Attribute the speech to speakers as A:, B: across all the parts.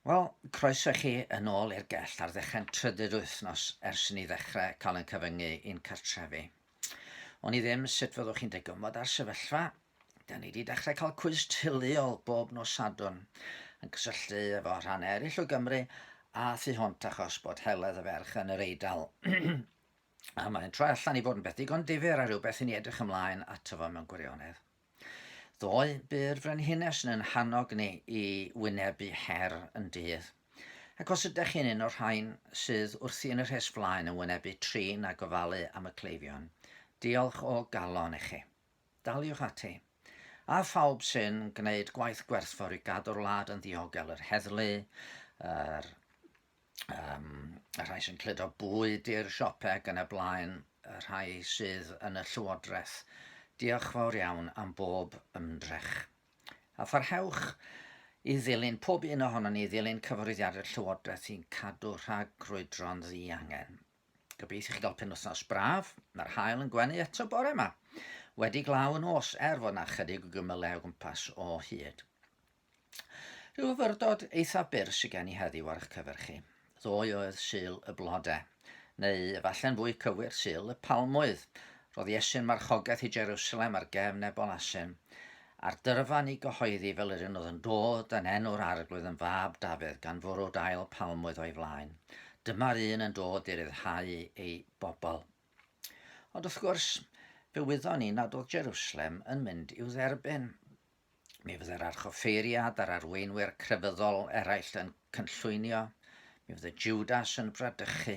A: Wel, croeso i chi yn ôl i'r gell ar ddechrau'n trydydd wythnos ers i ni ddechrau cael yn cyfyngu i'n cartrefi. O'n i ddim sut fyddwch chi'n degymod â'r sefyllfa. Da ni wedi dechrau cael cwys teuluol bob nos Sadwrn yn cysylltu efo rhan eraill o Gymru a thu hwnt achos bod heledd y ferch yn yr Eidal. a mae'n troi allan i fod yn beth digon difyr a rhywbeth i ni edrych ymlaen ato fo mewn gwirionedd. Ddoe, bu'r frenhines yn yn hannog ni i wynebu her yn dydd. Ac os ydych chi'n un o'r rhain sydd wrthi yn y rhes flaen yn wynebu trin a gofalu am y cleifion, diolch o galon i chi. Daliwch ati. A phawb sy'n gwneud gwaith gwerthfawr i gadw'r wlad yn ddiogel, yr heddlu, yr um, y rhai sy'n cludo bwyd i'r siopau ac yn y blaen, y rhai sydd yn y llywodraeth. Diolch fawr iawn am bob ymdrech. A pharhewch i ddilyn pob un ohono ni ddilyn cyfarwyddiadau'r llywodraeth i'n cadw rhag crwydro'n ddi angen. Gobeithio chi gael penwythnos braf, mae'r hael yn gwenu eto bore yma. Wedi glaw yn os, er fod yna chydig o gymylau o gwmpas o hyd. Rhyw fyrdod eitha byr sy gen i heddiw ar 'ych cyfer chi. Ddoe oedd Sul y Blode, neu efalle'n fwy cywir, Sul y Palmwydd. Roedd Iesu'n marchogaeth i Jerusalem ar gefn Nebol Asyn, a'r dyrfa ni gyhoeddi fel yr un oedd yn dod yn enw'r Arglwydd yn fab Dafydd gan fwrw dail palmwydd o'i flaen. Dyma'r un yn dod i ryddhau ei bobl. Ond wrth gwrs, fe wyddon ni nad oedd Jerusalem yn mynd i'w dderbyn. Mi fydd yr archoffeiriad a'r arweinwyr crefyddol eraill yn cynllwynio. Mi fydd y Judas yn bradychu.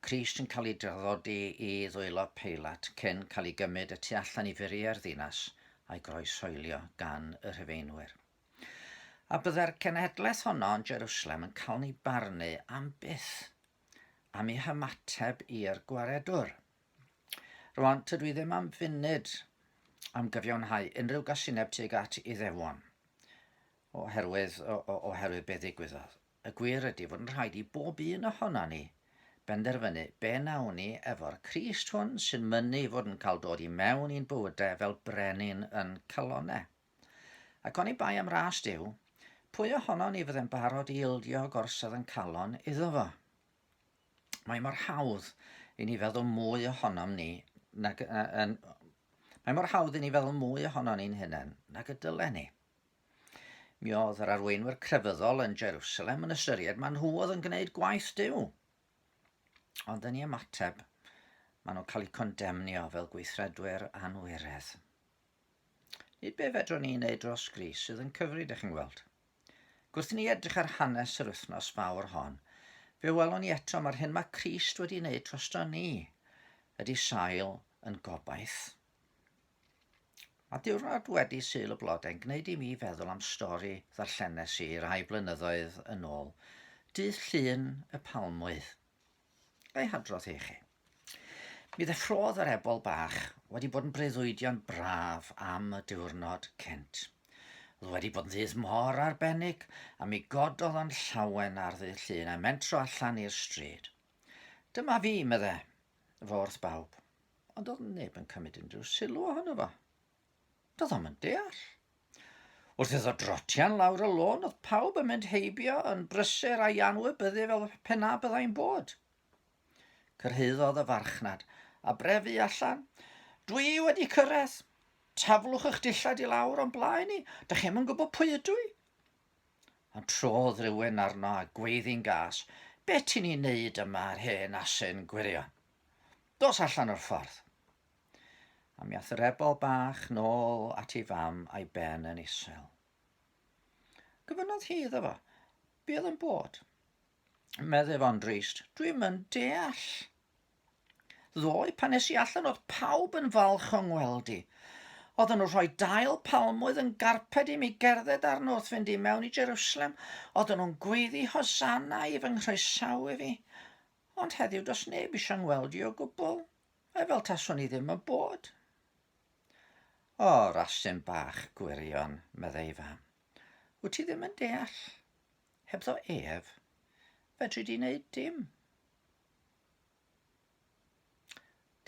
A: Crist yn cael ei draddodi i ddwylo Peilat cyn cael ei gymryd y tu allan i furiau'r ddinas a'i groesoelio gan y Rhufeinwyr. A byddai'r cenhedlaeth honno yn Jerusalem yn cael ei barnu am byth am ei hymateb i'r gwaredwr. Rwan, tydw i ddim am funud am gyfiawnhau unrhyw gasineb tuag at Iddewon, oherwydd, o, o, oherwydd be ddigwyddodd. Y gwir ydy fod yn rhaid i bob un ohono ni benderfynu be nawn ni efo'r Crist hwn sy'n mynnu fod yn cael dod i mewn i'n bywydau fel brenin yn calonau. Ac oni bai am ras Duw, pwy ohono ni fydde'n barod i ildio gorsadd yn calon iddo fo? mae mor hawdd i ni feddwl mwy ohonom ni nag, uh, yn, mae mor hawdd i ni feddwl mwy ohono ni'n hunain nag y dylen ni. Mi oedd yr arweinwyr crefyddol yn Jerusalem yn ystyried maen nhw oedd yn gwneud gwaith Dyw. Ond yn ei ymateb, maen nhw'n cael eu condemnio fel gweithredwyr anwiredd. Nid be fedrwn ni wneud dros Gris sydd yn cyfri, dych chi'n gweld. Gwrth ni edrych ar hanes yr wythnos fawr hon, fe welwn ni eto mae'r hyn mae Crist wedi wneud drosto ni ydy sail yn gobaith. Mae diwrnod wedi syl y blodau'n gwneud i mi feddwl am stori ddarllenes i rai blynyddoedd yn ôl, Dydd Llun y Palmwydd. Ga'i hadrodd i chi? Mi ddeffrodd yr ebol bach wedi bod yn breuddwydion braf am y diwrnod cynt. Oedd wedi bod yn ddydd mor arbennig a mi gododd o'n llawen ar ddydd llun a mentro allan i'r stryd. Dyma fi, medde, fo wrth bawb, ond oedd neb yn cymryd unrhyw sylw ohono fo. Doedd o'm yn deall. Wrth iddo drotian lawr y lôn, oedd pawb yn mynd heibio yn brysur a'i anwybyddu fel pena byddai'n bod. Cyrhaeddodd y farchnad, a brefu allan, Dwi wedi cyrraedd! Taflwch eich dillad i lawr o'n blaen i, da chi'm yn gwybod pwy ydw i! Ond trodd rhywun arno a gweiddi'n gas, Be ti'n ei wneud yma ar hen asyn gwirion? Dos allan o'r ffordd! A mi ath y rebel bach nôl at ei fam a'i ben yn isel. Gofynnodd hi iddo fo, be oedd yn bod? Medde fo'n drist, dwi'n yn deall. Ddoe, pan nes i allan oedd pawb yn falch o'n ngweld i. Oedden nhw rhoi dail palmwydd yn garped i mi gerdded arno wrth fynd i mewn i Jerusalem. Oedden nhw'n gweiddi hosanna i fy nghroesawu fi. Ond heddiw dos neb eisiau ngweld i o gwbl. Ai fel taswn i ddim yn bod? O, rasyn bach gwirion, meddai fam. Wyt ti ddim yn deall? Hebddo ef, fedri di wneud dim.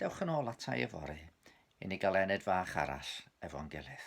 A: Dewch yn ôl ata i yfory i ni gael ened fach arall efo'n gilydd.